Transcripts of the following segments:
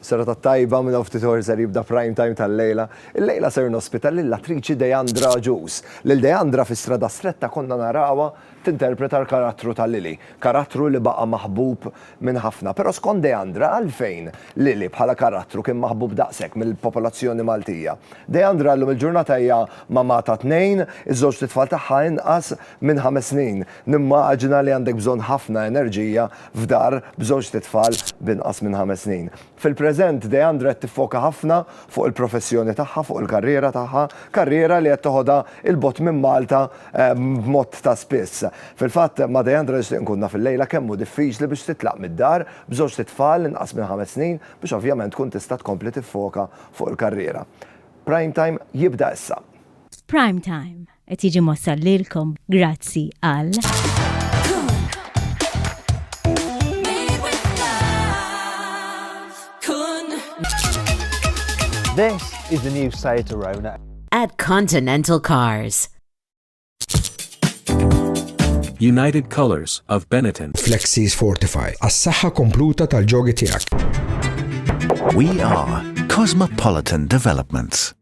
Serata tajba, minn hawn ftit ħor ser jibda Prime Time tal-lejla. Illejla ser nospita lill-attriċi Deandra Agius. Lil Deandra fi Strada Stretta konna narawha tinterpreta l-karattru ta' Lily, karattru li baqa' maħbub minn ħafna. Però skont Deandra għalfejn Lily bħala karattru kien maħbub daqshekk mill-popolazzjoni Maltija? Deandra llum il-ġurnata hija mamà ta' tnejn, iż-żewġ t'itfal tagħha inqas minn ħames snin. Nimmaġina li għandek bżonn ħafna enerġija f'dar b'żewġt itfal b'inqas minn ħames snin. Fil-preżent, Deandra qed tiffoka ħafna fuq il-professjoni tagħha, fuq il-karriera tagħha, karriera li qed toħodha 'il bogħod minn Malta b'mod ta' spiss. Fil-fatt, ma' Deandra nixtieq nkun naf illejla kemm hu diffiċli biex titlaq mid-dar b'żewġt itfal inqas minn ħames snin biex ovvjament tkun tista' tkompli tiffoka fuq il-karriera. Prime Time jibda issa. F'Prime Time, Qed jiġi mossal lilkom grazzi għal. This is the new Seat Arona. At Continental Cars. United Colors of Benetton. Flexis Fortify. As-saħħa kompluta tal-ġogi tiegħek. We are Cosmopolitan Developments.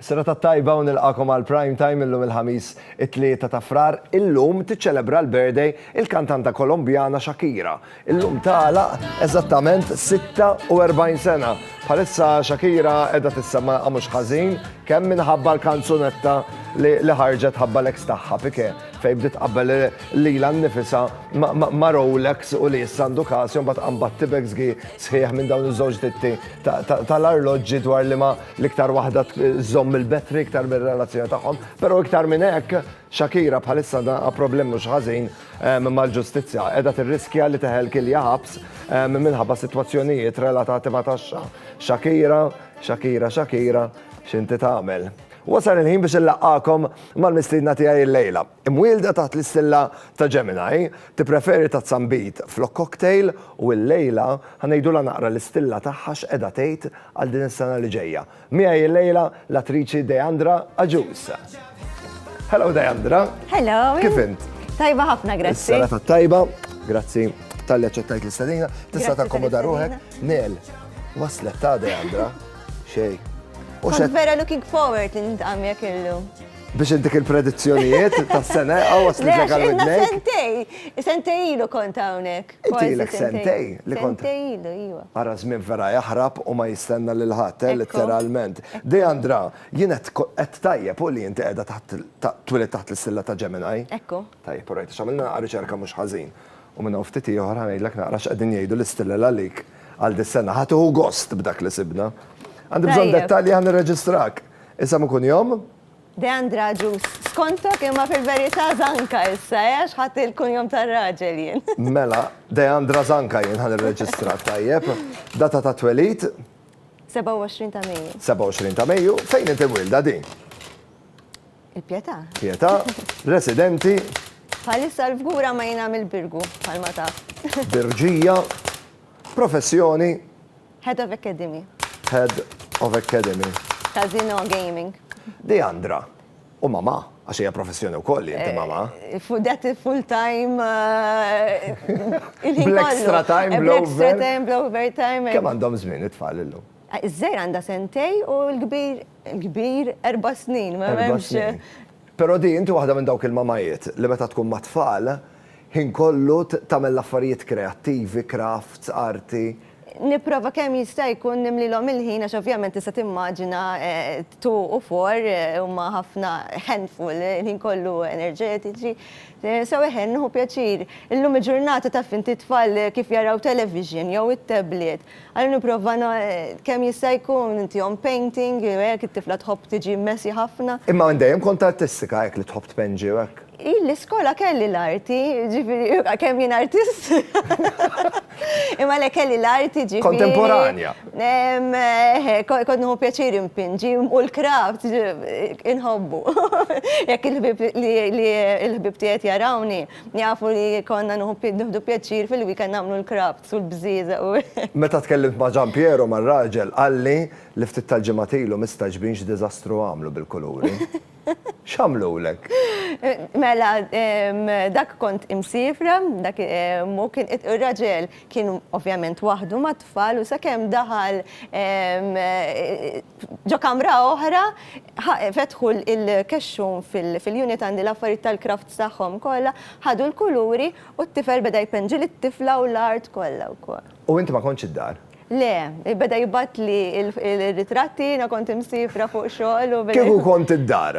Sena ta' tajba u nilqakom għal prime time illum il-ħamis it-tlieta ta' frar illum tiċċelebra l-birthday il-kantanta Kolombjana Shakira Illum tagħlaq eżattament 46 sena. Bħalissa Shakira qiegħda tissemma mhux ħażin kemm minħabba l-kanzunetta li ħarġet ħabba l-eks tagħha Pike fejn bdiet qabel lilha nnifisha ma' Rolex u li issa għandu każ imbagħad qambad tibex gi sħiħ minn dawn iż-żewġ ditti tal-arloġġi dwar li ma l-iktar waħda żomm il-betri iktar mir-relazzjoni tagħhom, però iktar minn hekk Shakira bħalissa għandha problem mhux ħażin mal-ġustizzja. Qiegħda tirriskja li teħel kilja ħabs minħabba sitwazzjonijiet relatati ma' taxxa. Shakira, Shakira, Shakira, x'inti tagħmel? Wasal il-ħin biex inlaqqagħkom mal-mistiedna tiegħi illejla. Imwielda taħt l-istilla ta' Gemini, tippreferi tazzambit flok cocktail u illejla ħa ngħidulha naqra l-istilla tagħha x'qiegħda tgħid għal din is-sena li ġejja. Miegħi illejla l-attriċi Deandra Agius. Hello Deandra. Hello. Kif int? Tajba ħafna, grazzi. Sara ta' tajba, grazzi tal-li ċettajt l-istadina. Tista' ta' komoda ruħek. Nel, waslet ta' Deandra. Xej. Kont vera looking forward li nintqam jek illu biex dik il-predizzjonijiet tas sena għawas li ġegal id-nej. Sentej, sentej ilu kont hawnhekk. Inti ilek sentejn li kont. Sentejn ilu, iva. Ara żmien vera jaħrab u ma jistenna lil ħadd, eh, litteralment. Deandra, jien qed qed tajjeb hu li inti qiegħda taħt twielidt taħt l-istilla ta' Gemini? Ekku. Tajjeb, u rajt għax għamilna riċerka mhux ħażin. U minn hawn ftit ieħor ħa ngħidlek naqra x'qegħdin jgħidu l-istilla għalik għal dis-sena. Ħa tieħu gost b'dak li sibna. Għandi bżonn dettalji ħa nirreġistrak. Isem u kunjom? Deandra Agius, skontok imma fil-verità Zanka issa, eh, għax ħadt il-kunjom tar-raġel jien. Mela, Deandra Zanka jien ħa nirreġistrak, tajjeb. Data ta' twelid? 27 ta' Mejju. 27 ta' Mejju, fejn inti mwilda din? Il-Pietà. Pietà, residenti? Bħalissa l-fgura ma jien għamil Birgu, bħalma taf. Birġija, professjoni? Head of Academy. Head of Academy. Ta' Zino Gaming. Deandra. U mama, għax hija professjoni wkoll li inti mama. Fudet eh, full time. Eh, extra time, blow extra time, blow overtime. Eh. Kemm għandhom żmien it-tfal illum? Iż-żejr għandha sentej u l-kbir l-kbir erba' snin, ma hemmx. Però di inti waħda minn dawk il-mamajiet li meta tkun mat-tfal ħin kollu tagħmel l-affarijiet kreattivi, crafts, arti. Nipprova kemm jista' jkun nimlilhom il-ħin għax ovvjament tista' timmaġina two u four huma ħafna handful il-ħin kollu enerġetiċi. So eħe, nieħu pjaċir. Illum il-ġurnata taf inti t-tfal kif jaraw television jew it-tablet. Allura nipprova kemm jista' jkun intihom painting, hekk it-tifla tħobb tiġi messy ħafna. Imma dejjem kont artistika hekk li tħobb tpenġi u hekk? Jien l-iskola kelli l-arti, ġifiri, kemm jien artist. Imma le kelli l-arti ġifiri. Kontemporanja. Kont nħu pjaċir impinġi u l-kraft inħobbu. Jekk il-ħbib tiegħi jarawni, jafu li konna nħdu pjaċir fil-weekend nagħmlu l-kraft u l-bżieża. Meta tkellimt ma' Gian Piero, mar-raġel, qalli li ftit tal-ġimgħat ilu mistaġbin x'diżastru għamlu bil-kuluri. X'għamlulek? Mela, dak kont imsifra, dak mu kien ir-raġel kien ovvjament waħdu mat-tfal u sakemm daħal ġo kamra oħra, fetħu l-kexxun fil-unit għandi l-affarijiet tal-crafts tagħhom kollha, ħadu l-kuluri u t-tifel beda jpenġi lit-tifla u l-art kollha wkoll. U inti ma kontx id-dar? Le, beda jibgħatli l-ritratti, jiena kont imsifra fuq xogħol u. Kieku kont id-dar.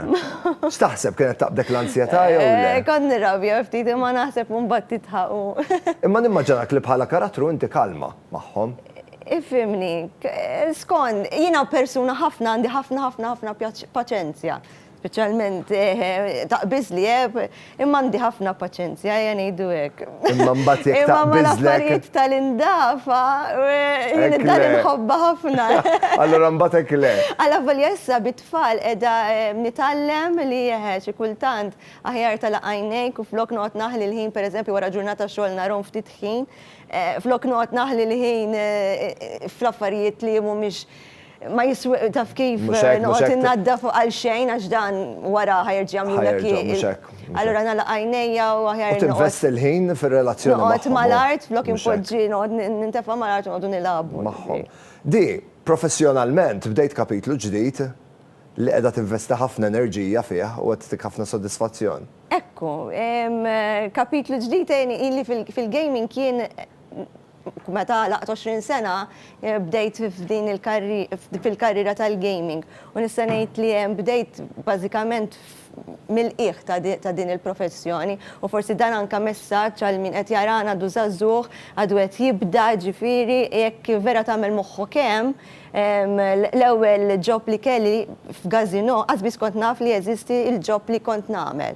X'taħseb kienet taqbdek l-anzjetà jew le? Kont nirrabja ftit imma naħseb u mbagħad tidħaq u. Imma nimmaġinak li bħala karattru inti kalma magħhom. Ifhimni, skond, jiena persuna ħafna għandi ħafna ħafna ħafna paċenzja. Speċjalment taqbiż li għeb, imma għandi ħafna paċenzja, ejja ngħidu hekk. Imma mbagħad jekk taqbiżlek. Imma mal-affarijiet tal-indafa, jien id-dar inħobbha ħafna. Allura mbagħad hekk le. Alla volja issa bit-tfal qiegħda nitgħallem li eħe xi kultant aħjar tagħlaq għajnejk u flok noqgħod naħli l-ħin pereżempju wara ġurnata xogħol narhom ftit ħin, flok noqgħod naħli l-ħin fl-affarijiet li mhumiex Ma jiswi, taf kif, noqgħod innaddaf għal xejn għax dan wara ħajerġa' jagħmlulek il. Allura nagħlaq għajnejja u aħjar. U tinvesti l-ħin fir-relazzjoni magħhom. Noqgħod mal-art, flok inpoġġi noqgħod nintefa' mal-art u noqogħdu nilagħbu. Magħhom. Di, professjonalment bdejt kapitlu ġdid li qiegħda tinvesti ħafna enerġija fih u qed ttik ħafna sodisfazzjon. Ekku, kapitlu ġdid għeni, ili fil-gaming jien Meta għalaqt 20 sena bdejt f'din il-karri fil-karriera tal-gaming u nista' ngħid li bdejt bażikament mill-qiegħ ta' ta' din il-professjoni u forsi dan anke messaġġ għal min qed jarana għadu żagħżugħ għadu qed jibda ġifieri jekk vera tagħmel moħħok hemm l-ewwel job li kelli f'gazino qatt biss kont naf li jeżisti l-job li kont nagħmel.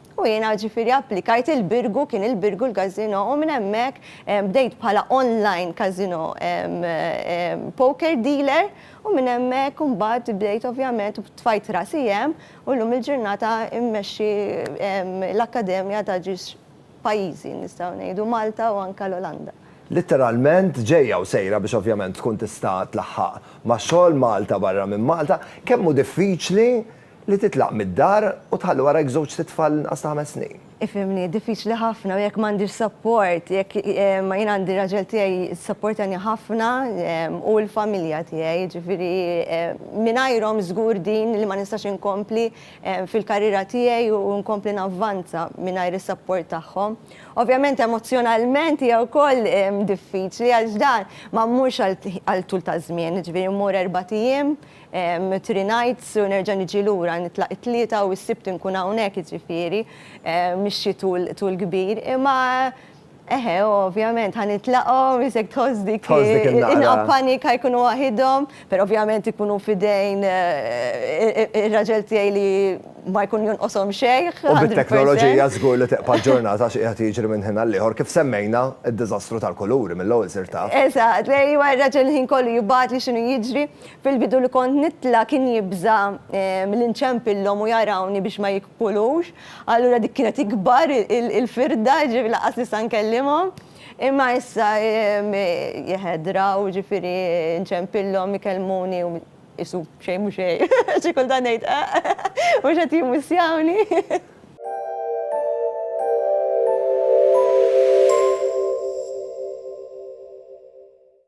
U jiena ġifieri applikajt il-Birgu, kien il-Birgu l-casino, u minn hemmhekk bdejt bħala online casino poker dealer u minn hemmhekk imbagħad bdejt ovvjament tfajt rasi hemm u llum il-ġurnata immexxi l-akkademja ta' ġiex pajjiżi nistgħu ngħidu Malta u anke l-Olanda. Litteralment ġejja u sejra biex ovvjament tkun tista' tlaħħaq ma' xogħol Malta barra minn Malta. Kemm hu diffiċli Li titlaq mid-dar u tħalli warajk żewġt sitt tfal inqas ta' ħames snin. Ifhimni, diffiċli ħafna u jekk m'għandix support, jekk ma jien għandi r-raġel tiegħi jissapportani ħafna u l-familja tiegħi, jiġifieri mingħajrhom żgur din li ma nistax inkompli fil-karriera tiegħi u nkompli navvanza mingħajr is-support tagħhom. Ovvjament emozzjonalment hija wkoll diffiċli għax dan ma mmurx għal tul ta' żmien, jiġifieri mmur erbat ijiem, Three nights u nerġa' niġi lura, nitlaq it-Tlieta u s-Sibt inkun hawnhekk jiġifieri mixi tul kbir. Imma eħe ovvjament ħa nitlaqhom isek tħoss dik inqab panika jkunu waħidhom, però ovvjament ikunu f'idejn ir-raġel tiegħi li ma jkun jonqoshom xejn. U bit-teknoloġija żgur li teqpa' l-ġurnata xi qiegħed jiġri minn ħin għal ieħor kif semmejna d-diżastru tal-kuluri mill-ewwel sir taf. Eżatt, ejwa r-raġel il-ħin kollu jibgħatli x'inhu jiġri. Fil-bidu li kont nitla' kien jibża' milli nċempillhom u jarawni biex ma jikpulux, allura dik kienet ikbar il-firda, jiġifieri lanqas nista' nkellimhom. Imma issa jehedra u jiġifieri nċempillhom ikellmuni u qisu xejn mhu xejn. Xi kultant ngħid eħ, mhux qed jimmisjawni.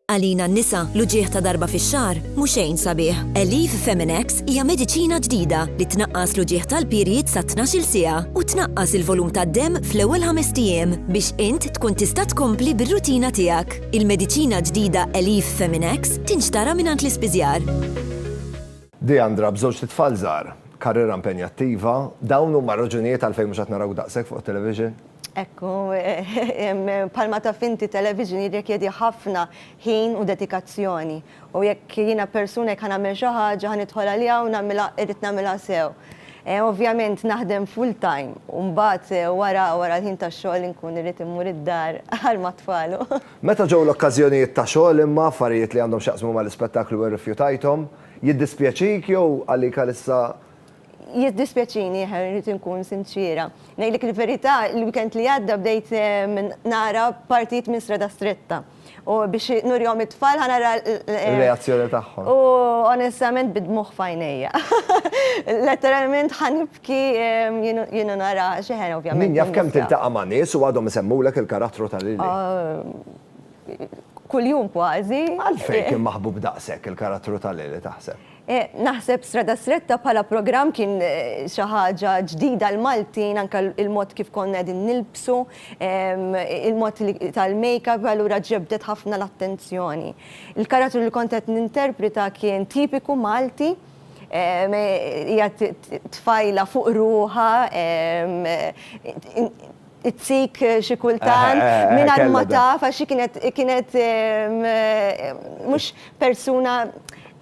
Għalina n-nisa, l-uġigħ ta' darba fix-xahar mhu xejn sabiħ. Aleve Feminex hija mediċina ġdida li tnaqqas l-uġigħ tal-period sa tnax-il siegħa u tnaqqas il-volum tad-demm fl-ewwel ħamest ijiem biex int tkun tista' tkompli bir-rutina tiegħek. Il-mediċina ġdida Aleve Feminex tinxtara mingħand l-ispiżjar. Deandra b'żewġt itfal żgħar, karriera impenjattiva, dawn huma r-raġunijiet għalfejn mhux qed narawk daqshekk fuq it-television? Hekk hu, bħalma taf inti television jirrikjedi ħafna ħin u dedikazzjoni u jekk jiena persuna jekk ħa nagħmel xi ħaġa ħa nidħol għaliha u nagħmilha irrid nagħmilha sew. Ovvjament naħdem full time u mbagħad wara wara l-ħin tax-xogħol inkun irrid immur id-dar għal mat-tfal u. Meta ġew l-okkażjonijiet ta' xogħol imma affarijiet li għandhom x'jaqsmu mal-ispettaklu irrifjutajthom? Jiddispjaċik jew għalik għalissa Jiddispjaċini, eħe, irrid inkun sinċiera. Ngħidlek il-verità, il-weekend li għadda bdejt nara partijiet minn Strada Stretta. U biex nurihom it-tfal ħa nara l-reazzjoni tagħhom. U onestament bid-dmugħ f'għajnejja. Letteralment ħa nibki jien u nara għax eħe ovvjament. Min jaf kemm tiltaqa' ma' nies u għadhom isemmulek il-karattru ta' Lili. Kuljum kważi. Għalfejn kien maħbub daqshekk il-karattru ta' Lili taħseb? Naħseb Strada Stretta bħala programm kien xi ħaġa ġdida għal Maltin, anke il-mod kif konna qegħdin nilbsu, il-mod li tal-makeup, allura ġebdet ħafna l-attenzjoni. Il-karattru li kont qed ninterpreta kien tipiku Malti, hija tfajla fuq ruħha, It-tik xi kultant mingħajr ma taf għax xi kienet kienet mhux persuna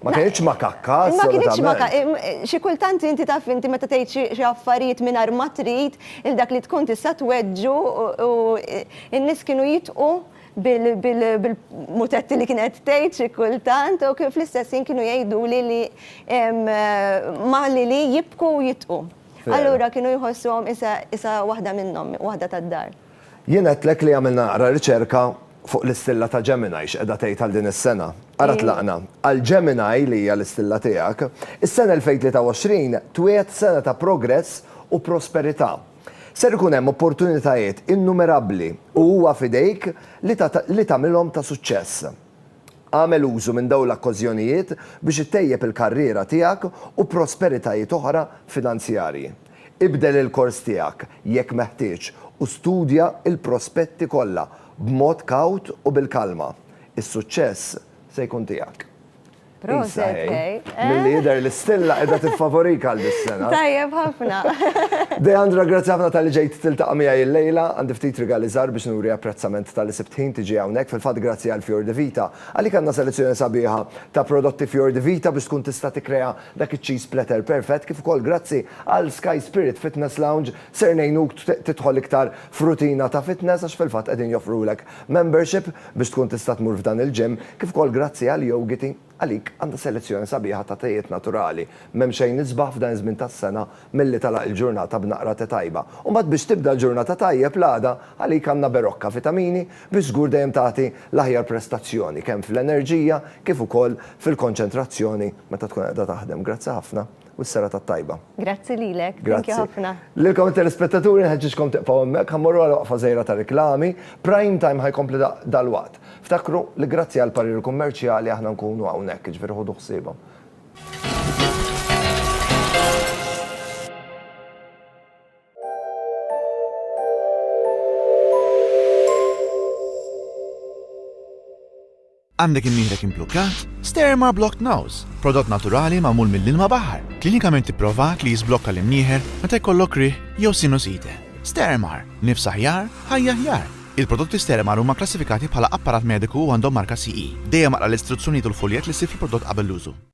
Ma kienx makakka. Ma kienx makakka. Xi kultant inti taf inti meta tgħid xi affarijiet mingħajr ma trid il dak li tkun tista' tweġġu u n-nies kienu jitqu bil-mutetti li kienet tgħid xi kultant u fl-istess ħin kienu jgħiduli li ma li li jibku u jitqu. Allura kienu jħossuhom isa waħda minnhom, waħda tad-dar. Jien għedtlek li għamilna naqra riċerka fuq l-istilla ta' Gemini x'qiegħda tgħid għal din is-sena. Ara tlaqna. Għal Gemini, li hija l-istilla tiegħek, is-sena 2023 twiegħed sena ta' progress u prosperità. Ser ikun hemm opportunitajiet innumerabbli u huwa f'idejk li tagħmilhom ta' suċċess. Agħmel użu minn dawn l-akkożjonijiet biex ittejjeb il-karriera tiegħek u prosperitajiet oħra finanzjarji. Ibdel il-kors tiegħek, jekk meħtieġ, u studja l-prospetti kollha b'mod kawt u bil-kalma. Is-suċċess se jkun tiegħek. Milli jidher li stilla qiegħda tiffavorika għal dis-sena. Tajjeb ħafna. Deandra, grazzi ħafna talli ġejt tiltaqa' miegħi llejla. Għandi ftit rigali żgħar biex nuri apprezzament talli sibt ħin tiġi hawnhekk. Fil-fatt grazzi għal Fior di Vita. Għalik għandna selezzjoni sabiħa ta' prodotti Fior di Vita biex tkun tista' tikkrea dak iċ-cheese platter perfett, kif ukoll grazzi għal Sky Spirit Fitness Lounge ser ngħinuk tidħol iktar f'rutina ta' fitness għax fil-fatt qegħdin joffrulek Membership biex tkun tista' tmur f'dan il-gym, kif ukoll grazzi għal Yogiti, għalik għandna selezzjoni sabiħa ta' tejiet naturali. M'hemm xejn isbaħ f'dan iż-żmien tas-sena milli tagħlaq il-ġurnata b'naqra te tajba. U mbagħad biex tibda l-ġurnata tajjeb l-għada, għalik għandna Berocca Vitamini biex żgur dejjem tagħti l-aħjar prestazzjoni kemm fl-enerġija kif ukoll fil-konċentrazzjoni meta tkun qiegħda taħdem. Grazzi ħafna. u s-serata t-tajba. Grazzi lilek. Grazzi ħafna. Lilkom it-telespettaturi nħeġġiġkom tibqgħu hemmhekk, ħa mmorru għal waqfa żgħira ta' riklami. Prime Time ħa jkompli dalwaqt. Ftakru li grazzi għall-pariri kummerċjali aħna nkunu hawnhekk, jiġifieri ħudu ħsiebhom. Għandek imnieħrek implukkat? Sterma Blocked Nose, prodott naturali magħmul mill-ilma baħar, klinikament ipprovat li jiżblokka l-imnieħer meta jkollok riħ jew sinusite. Stermar, nifs aħjar, ħajja aħjar. Il-prodotti Stermar huma kklassifikati bħala apparat mediku u għandhom marka CE. Dejjem aqra l-istruzzjonijiet u l-fuljett li ssib fil-prodott qabel l-użu.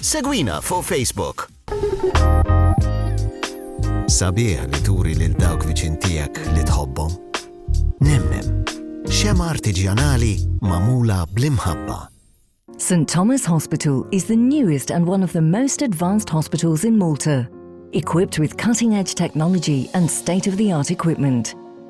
Segwina fuq Facebook. Sabiħ li turi lil dawk viċin tiegħek li tħobbhom. Nemnem, xema artiġjanali mamula bl-imħabba. St Thomas Hospital is the newest and one of the most advanced hospitals in Malta, equipped with cutting-edge technology and state-of-the-art equipment.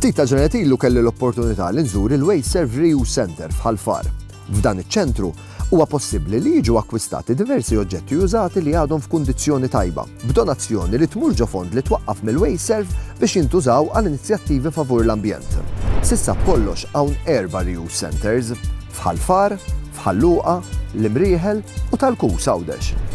Ftit ta' ġenet ilu kelli l-opportunità li nżur il-Way Serve Reuse Center f'Ħalfar. F'dan iċ-ċentru Huwa possibbli li jiġu akkwistati diversi oġġetti użati li għadhom f'kundizzjoni tajba, b'donazzjoni li tmur ġo fond li twaqqaf mill-WasteServ biex jintużaw għal inizjattivi favur l-ambjent. S'issa b'kollox hawn erba' reuse centres, f'Ħal Far, f'Ħal Luqa, l-Imrieħel u tal-Kus, Għawdex.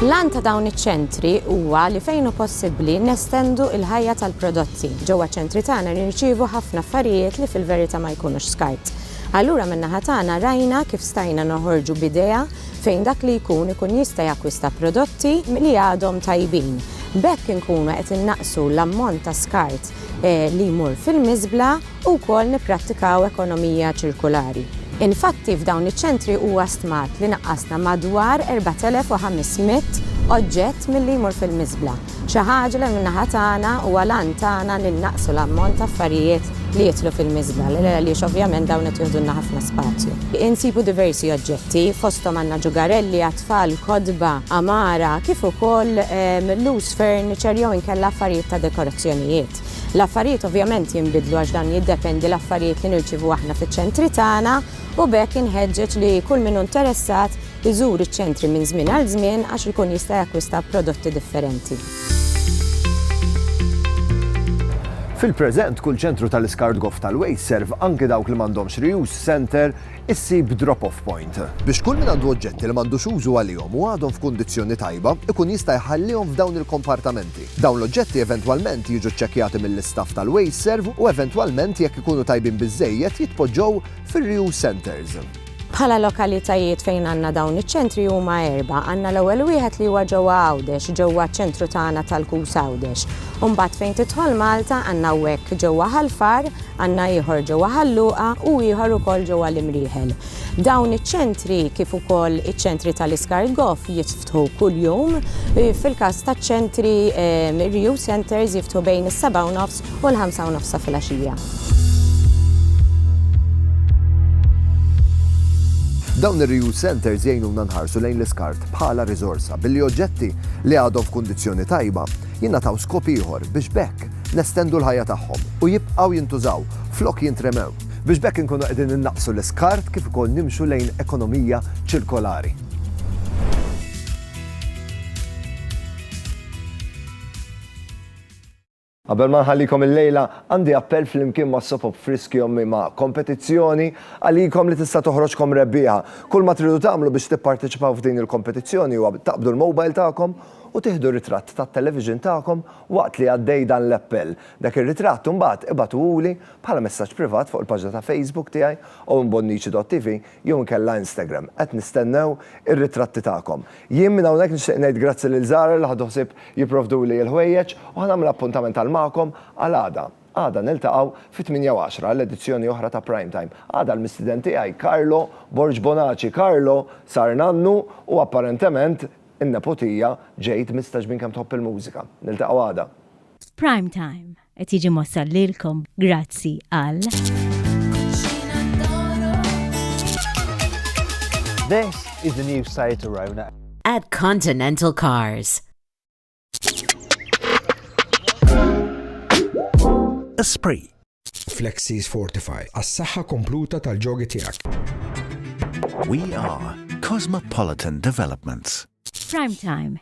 L-għan ta' dawn iċ-ċentri huwa li fejn hu possibbli nestendu l-ħajja tal-prodotti. Ġewwa ċ-ċentri tagħna nirċievu ħafna affarijiet li fil-verità ma jkunux skart. Allura min-naħa tagħna rajna kif stajna noħorġu b'idea fejn dak li jkun ikun jista' jakkwista prodotti li għadhom tajbin. B'hekk inkunu qed innaqqsu l-ammont ta' skart li jmur fil-miżbla u wkoll nipprattikaw ekonomija ċirkulari. Infatti f'dawn iċ-ċentri huwa stmat li naqqasna madwar 4,500 oġġett milli jmur fil-miżbla. Xi ħaġa li min-naħa tagħna huwa l-għan tagħna li nnaqqsu l-ammont ta' affarijiet li jidħlu fil-miżbla għaliex ovvjament dawn qed joħdulna ħafna spazju. Insibu diversi oġġetti, fosthom għandna ġugarelli għat-tfal, kotba, għamara, kif ukoll loose furniture jew inkella affarijiet ta' dekorazzjonijiet. L-affarijiet ovvjament jinbidlu għax dan jiddependi l-affarijiet li nirċievu aħna fiċ-ċentri tagħna u b'hekk inħeġġeġ li kull min hu interessat iżur iċ-ċentri minn żmien għal żmien għax ikun jista' jakkwista prodotti differenti. Fil-preżent, kull ċentru tal-iskart goff tal-waste serv anki dawk li m'għandhomx reuse center issib drop-off point. Biex kull min għandu oġġetti li m'għandux użu għalihom u għadhom f'kundizzjoni tajba, ikun jista' jħallihom f'dawn il-kompartamenti. Dawn l-oġġetti eventwalment jiġu ċċekkjati mill-istaff tal-waste serv u eventwalment jekk ikunu tajbin biżżejjed jitpoġġew fir-reuse centers. Bħala lokalitajiet fejn għandna dawn iċ-ċentri huma erbgħa. Għandna l-ewwel wieħed li huwa ġewwa Għawdex, ġewwa ċ-ċentru tagħna tal-KUS Għawdex. U mbagħad fejn tidħol Malta għandna hawnhekk ġewwa Ħal Far, għandna ieħor ġewwa Ħal Luqa u ieħor ukoll ġewwa l-Imrieħel. Dawn iċ-ċentri kif ukoll iċ-ċentri tal-iskart goff jitftħu kuljum. Fil-każ taċ-ċentri, ir-reuse centres jiftħu bejn is-sebgħa u nofs u l-ħamsa u nofsa filgħaxija. Dawn ir-reuse centers jgħinuna nħarsu lejn l-iskart bħala riżorsa billi oġġetti li għadhom f'kundizzjoni tajba jingħataw skop ieħor biex bekk nestendu l-ħajja tagħhom u jibqgħu jintużaw flok jintremew biex bekk inkunu qegħdin innaqsu l-iskart kif ukoll nimxu lejn ekonomija ċirkolari. Qabel ma nħallikom illejla, għandi appell flimkien ma' Soap Op Friski Ommi ma' kompetizzjoni għalikom li tista' toħroġkom rebbieħa. Kull ma tridu tagħmlu biex tipparteċipaw f'din il-kompetizzjoni huwa taqbdu l-mobile tagħkom u tieħdu ritratt tat-television tagħkom waqt li għaddej dan l-appell. Dak ir-ritratt imbagħad ibagħtuhuli bħala messaġġ privat fuq il-paġna ta' Facebook tiegħi, owenbonnici.tv, jew inkella Instagram. Qed nistennew ir-ritratti tagħkom. Jien minn hawnhekk nixtieq ngħid grazzi lil Zara li ħadu ħsieb jipprovduli il-ħwejjeġ u ħa nagħmel appuntament għal magħkom għal għada. Għada niltaqgħu fit-tmienja u għaxra għal edizzjoni oħra ta' Prime Time. Għada l-mistiden tiegħi Carlo Borg Bonaci. Carlo sar nannu u apparentement in-nepotija ġejt mista ġbin kemm tħobb il-mużika. Niltaqgħu għada. F'Prime Time. Qed jiġi mossal lilkom grazzi għal. This is the new Seat Arona. At Continental Cars. Esprit. Flexis Fortify, għas-saħħa kompluta tal-ġogi tiegħek. We are Cosmopolitan Developments. Prime Time